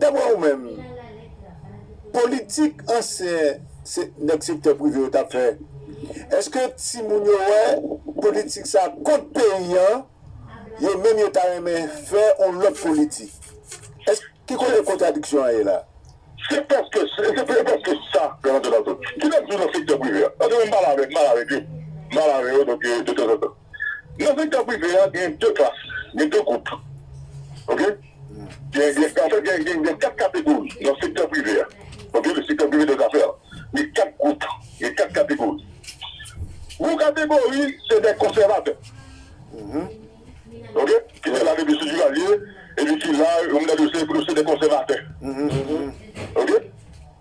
Daprè ou menm, politik ansyen nèg sektè prive yo t ap fè, èske timoun yo wè politik sa kont peyi an, yo menm yo ta renmen fè yon lòt politik? Ki kote kontradiksyon an ye la? Se prèske sa, Jean Antoine Antot. Kilès nou nan sektè prive a? Paske mwen m pale avèk, m pale avèk yo, m pale avè yo donk de tanzantan. Nan sektè prive a gen de klas, gen de gwoup ok. Anfèt, gen kat kategori nan sektè prive a, ok, le secteur privé des affaires, gen kat gwoup, gen kat kategori. Yon kategori se dè konsèvatè, ok, ki te la depi sou Duvalier epi ki la, yo mwen ta di yo se dè konsèvatè, ok.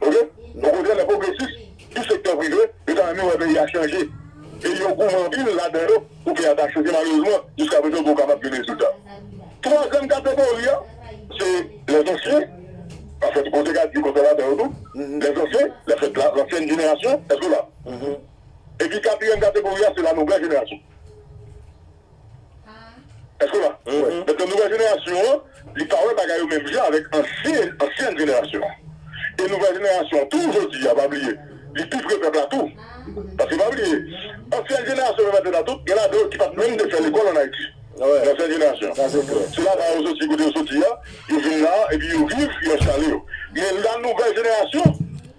Ok bon kote lè pwogresis tou sektè prive yo ta renmen wè peyi a chanje e yo goumen anpil ladan yo pou peyi a ta chanje malerezman jiska prezan poko kapab gen rezilta twazèm kategori a se lè ansyen anfèt bon dega di konsa ladan yo tou lè ansyen lè fèt la lansyen jenerasyon èske w la epi katriyèm kategori a se la nouvèl jenerasyon. Èske w la? Donk nan nouvèl jenerasyon an, li pa wè bagay yo menm jan avèk ansyèn jenerasyon an. E nouvèl jenerasyon an tou jodi a, pa bliye, li pi pre pèp la tou. Paske pa bliye, ansyèn jenerasyon menm antèt la tout, gen ladan yo ki pa t menm te fè lekòl ann Ayiti nan ansyèn jenerasyon an. Se la ba yo soti, kote yo soti a, yo vin la a epi yo viv, yo enstale yo. Men lanou-vèl jenerasyon.